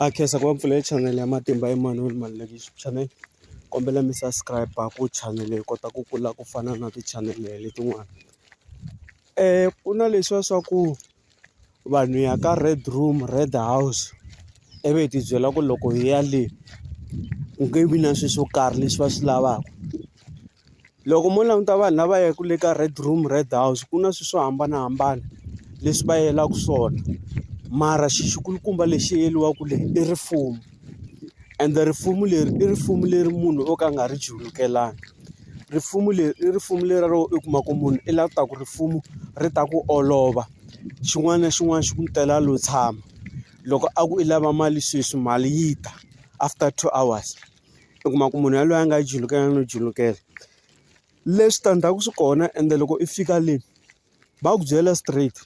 A khensa ku va pfulele chanele ya Matimba Emanuel Malulekisi channel kombela mi subscribe ku chanele hi kota ku kula ku fana na tichanele letin'wana ku na leswiya swa ku vanhu ya ka red room red house ivi hi tibyela ku loko hi ya le ku nge vi na swilo swo karhi leswi va swi lavaka. Loko mo languta vanhu lava yaka le ka red room red house ku na swilo swo hambanahambana leswi va yelaka swona mara xi xi kulukumba lexi yeriwaka le i rifumbu ende rifumbu leri i rifumbu leri munhu o ka a nga ri chulukelana rifumbu leri i rifumbu leri ro i kuma ku munhu i lava ku ta ku rifumbu ri ta ku olova xin'wana na xin'wana xi ku tela lo tshama loko a ku i lava mali sweswi mali yi ta after two hours. u kuma ku munhu yaloye a nga julukela no julukela le switandzhaku swi kona ende loko i fika le va ku byela straight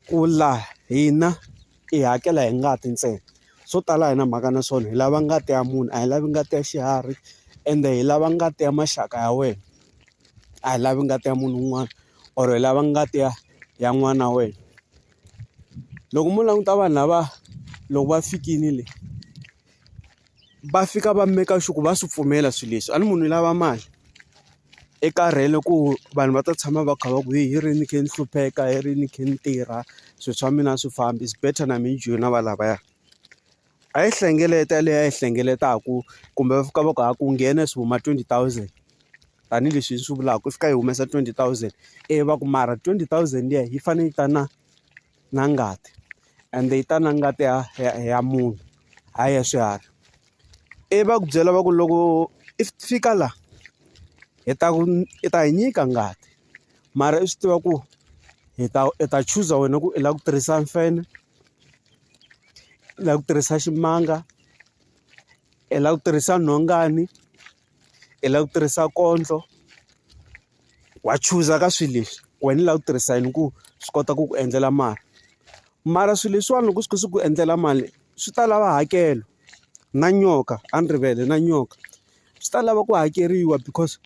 ku la hina i hakela hi ngati ntsena swo tala a hi na mhaka na swona hi lava ngati ya munhu a hi lavi ngati ya xiharhi ende hi lava ngati ya maxaka ya wena a hi lavi ngati ya munhu un'wana or hi lava ngati ya ya n'wana wa wena loko mo languta vanhu lava loko va fikini le. va fika va make sure ku va swi pfumela swilo leswi a ni munhu lava mali i karhele ku vanhu va ta tshama va kha va ku hi ri ni kha ni hlupheka hi ri ni kha ni tirha swilo swa mina a swi fambi is better na mehe ni joyina va lavaya a yi hlengeleta leyi a yi hlengeletaka kumbe va fika va ku ha ku nghena swi huma twenty thousand tanihileswi hi swi vulaka ku fika yi humesa twenty thousand ivi va ku mara twenty thousand liya yi fanele yi ta na. na ngati ende yi ta na ngati ya ya ya munhu hayi ya swiharhi i va ku byela va ku loko i fika la hi ta ku i ta hi nyika ngati mara i swi tiva ku hi ta i ta chuza wena ku i lava ku tirhisa mfenhe i lava ku tirhisa ximanga i lava ku tirhisa nhongani. i lava ku tirhisa kondlo wa chuza ka swilo leswi wena u lava ku tirhisa yini ku swi kota ku ku endlela mali mara swilo leswiwani loko swi kha swi ku endlela mali swi ta lava hakelo na nyoka a ni rivele na nyoka swi ta lava ku hakeriwa because.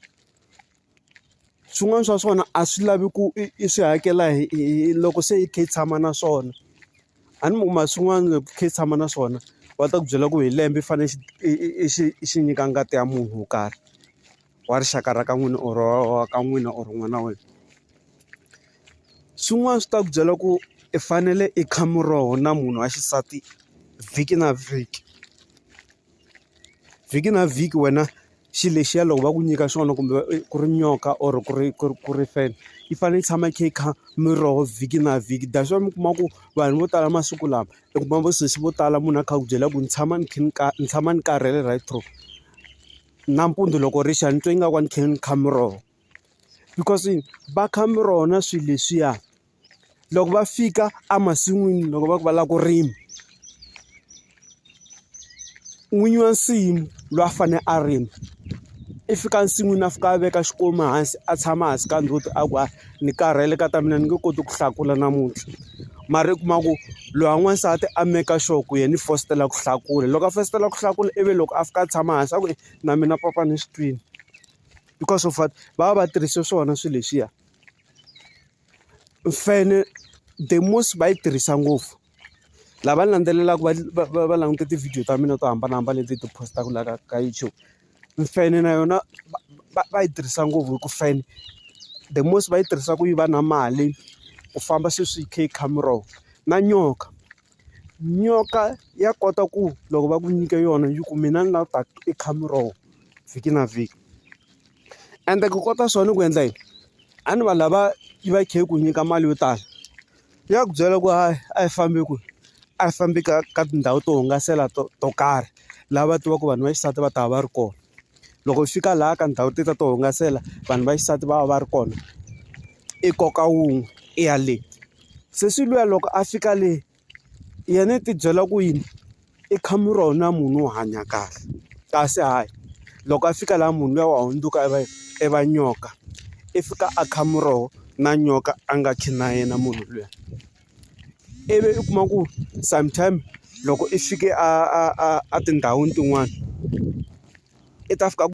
swin'wana swa swona a swi lavi ku i swi hakela hi hi loko se i kha i tshama na swona. A ni ma swin'wana loko i kha i tshama na swona va ta ku byela ku hi lembe i fanele i i i xi i xi nyika ngati ya munhu wo karhi, wa rixaka ra ka n'wina or wa ka n'wina or n'wana wa wena. Swin'wana swi ta ku byela ku i fanele i kha muroho na munhu wa xisati vhiki na vhiki. vhiki na vhiki wena xi lexiya loko va ku nyika xona kumbe ku ri nyoka or ku ri ku ri ku ri feni yi fanele yi tshama yi kha yi kha miroho vhiki na vhiki that's why mi kuma ku vanhu vo tala masiku lama u kuma vo sesi vo tala munhu a kha a ku byela ku ni tshama ni kha ni ka ni tshama ni karhele right through nampundzu loko ri xa ni twa ingaku a ni kha ni kha miroho because va kha miroho na swilo leswiya loko va fika emasin'wini loko va ku va lava ku rima n'winyi wa nsimu loyi a fanele a rima i fika ensin'wini a fika a veka xikomu hansi a tshama hansi ka ndzhuti a ku a ni karhele ka ta mina ni nge koti ku hlakula namuntlha mara i kuma ku loyi wa n'wansati a maker sure ku yena i fositela ku hlakula loko a fositela ku hlakula ivi loko a fika a tshama hansi a ku na mina papa ni swi twini because of what va va va tirhise swona swilo leswiya. Mfene the most va yi tirhisa ngopfu lava ni landzelelaka va va va va languta tivhidiyo ta mina to hambanahambana leti hi ti post-aka laha ka ka YouTube mfene na yona va va yi tirhisa ngopfu hi ku fana the most va yi tirhisa ku yiva na mali ku famba sweswi yi kha yi khamiroho na nyoka nyoka ya kota ku loko va ku nyike yona yi ku mina ni lava ku ta i khamiroho vhiki na vhiki. ende ku kota swona ku endla yini a ni vanhu lava yi va yi kha yi ku nyika mali yo tala ya ku byela ku hayi a yi fambi kwihi a yi fambi ka ka tindhawu to hungasela to to karhi lava tivaka vanhu va xisati va ta va va ri kona loko yi fika laha ka ndhawu teta to hungasela vanhu va xisati va va va ri kona i koka wun'we i ya le se swi luya loko a fika le. yena i tibyela ku yini i khamu ra wena munhu wo hanya kahle kasi hayi loko a fika laha munhu luya wa hundzuka i va i va nyoka i fika a kha muroho na nyoka a nga khi na yena munhu luya ivi u kuma ku sometime loko i fike a a a a tindhawini tin'wani i ta fika ku.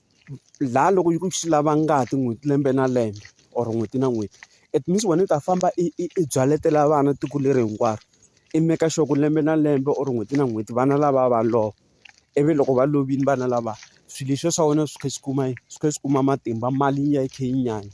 la loko yi ku yi lava ngati n'hweti lembe na lembe or n'hweti na n'hweti it means wena u ta famba i i i byaletela vana tiko leri hinkwaro i make sure ku lembe na lembe or n'hweti na n'hweti vana lava va lova ivi loko va lovile vana lava swilo leswiya swa wena swi kha swi kuma yini swi kha swi kuma matimba mali yi ya yi kha yi nyanya.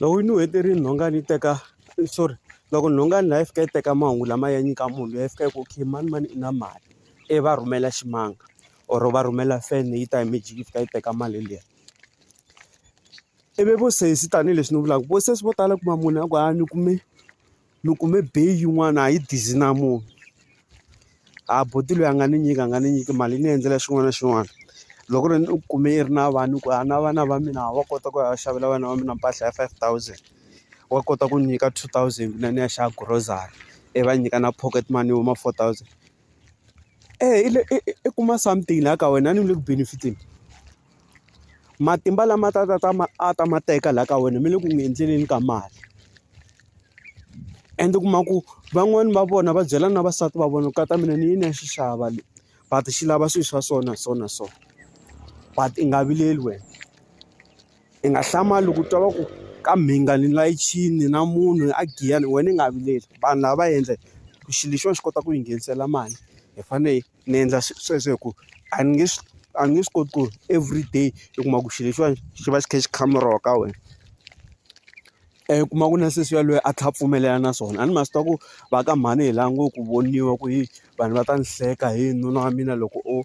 Loko ni heterile nhonga ni teka sorry loko nhonga ni la yi fika yi teka mahungu lama ya nyika munhu loyi a fika yi ku okay mani mani i na mali i va rhumela ximanga or va rhumela fan yi ta hi magic yi fika yi teka mali liya ivi vo sesi tanihileswi ni vulaka vo sesi vo tala u kuma munhu a ku a ni kume. ni kume bay yin'wana a yi dizzy na munhu a buti loyi a nga ni nyika a nga ni nyiki mali yi ni endlela xin'wana na xin'wana loko ni u kume i ri na vanhu ku a na vana va mina wa kota ku ya xavela vana va mina mpahla ya five thousand wa kota ku nyika two thousand na ni ya xava grocery i va nyika na pocket money yo ma four thousand. Eya i le i i i kuma something laha ka wena a ni le ku benefit-eni matimba lama ta ta ta ma a ta ma teka laha ka wena mi le ku n'wi endleleni ka mali ende u kuma ku van'wani va vona va byela na vasati va vona ku kata mina ni yini ya xi xava le but xi lava swilo swa so na so na so but i nga vileli wena. Ni nga hlamali loko u twa va ku ka mhinga ni layichini na munhu a giya ni wena ni nga vileli vanhu lava va endla ku xilo lexiwani xi kota ku yi nghenisela mali hi fanele ni endla sweswo hi ku a ni nge swi a ni nge swi koti ku everyday i kuma ku xilo lexiwani xi va xi kha xi khameriwa ka wena u kuma ku na sesi yaloye a tlhe a pfumelela na swona a ni ma swi tiva ku va ka mhani hi lava ngo ku voniwa ku hi vanhu va ta ni hleka hi nuna wa mina loko o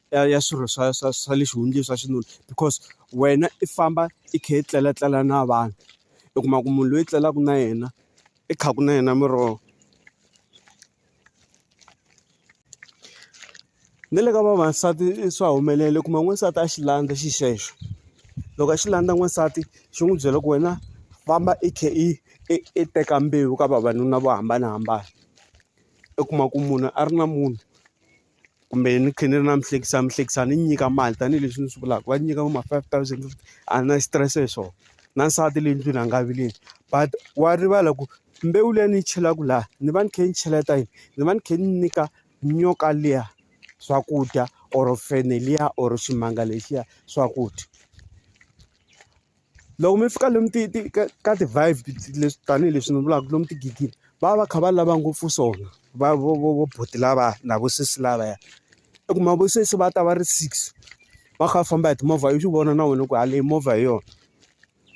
ya ya swirho swa swa swa le xihundleni swa xinuna because wena i famba i kha i tleletlela na vanhu u kuma ku munhu loyi tlelaka na yena i kha ku na yena miroho ni le ka vavasati swa humelela u kuma n'wansati a xi landza xi xexo loko a xi landza n'wansati xi n'wi byela ku wena famba i kha i i teka mbewu ka vavanuna vo hambanahambana u kuma ku munhu a ri na munhu. kumbe ni kha ni ri na mihlekisa mihlekisa ni nyika mali tanihileswi ni swi vulaka va nyika vo ma five thousand fifty a ni na xitirese hi swona na nsati le ndlwini a nga vileli but wa rivala ku mbewu liya ni yi chelaka laha ni va ni kha ni cheleta yini ni va ni kha ni nyika nyoka liya swakudya or fenhe liya or ximanga lexiya swakudya. Loko mi fika lomu ti ti ka ka ti-vibe leswi tanihileswi ni vulaka lomu tigigini va va va kha va lava ngopfu swona va vo vo vo buti lava na vo sesi lavaya u kuma vo sesi va ta va ri six va kha va famba hi timovha u swi vona na wena ku ha leyi movha hi yona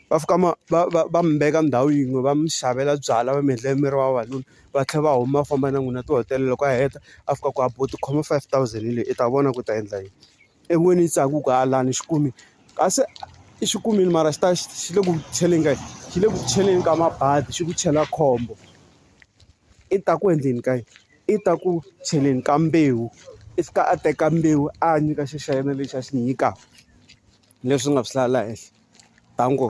va fika va va va va mi veka ndhawu yin'we va mi xavela byalwa va mi endlela mi ri vavanuna va tlhela va huma va famba na n'wina tihotela loko a heta a fika ku a bo tikhoma five thousand hi leyi i ta vona ku u ta endla yini. En'wini yi tsaka ku ku hala ni xi kumi kasi i xi kumile mara xi ta xi xi le ku cheleni ka yini xi le ku cheleni ka mabadi xi ku chela khombo i ta ku endleni ka yini i ta ku cheleni ka mbewu i fika a teka mbewu a nyika xi xa yena lexi a xi nyika leswi nga swi lahla la henhla thank u.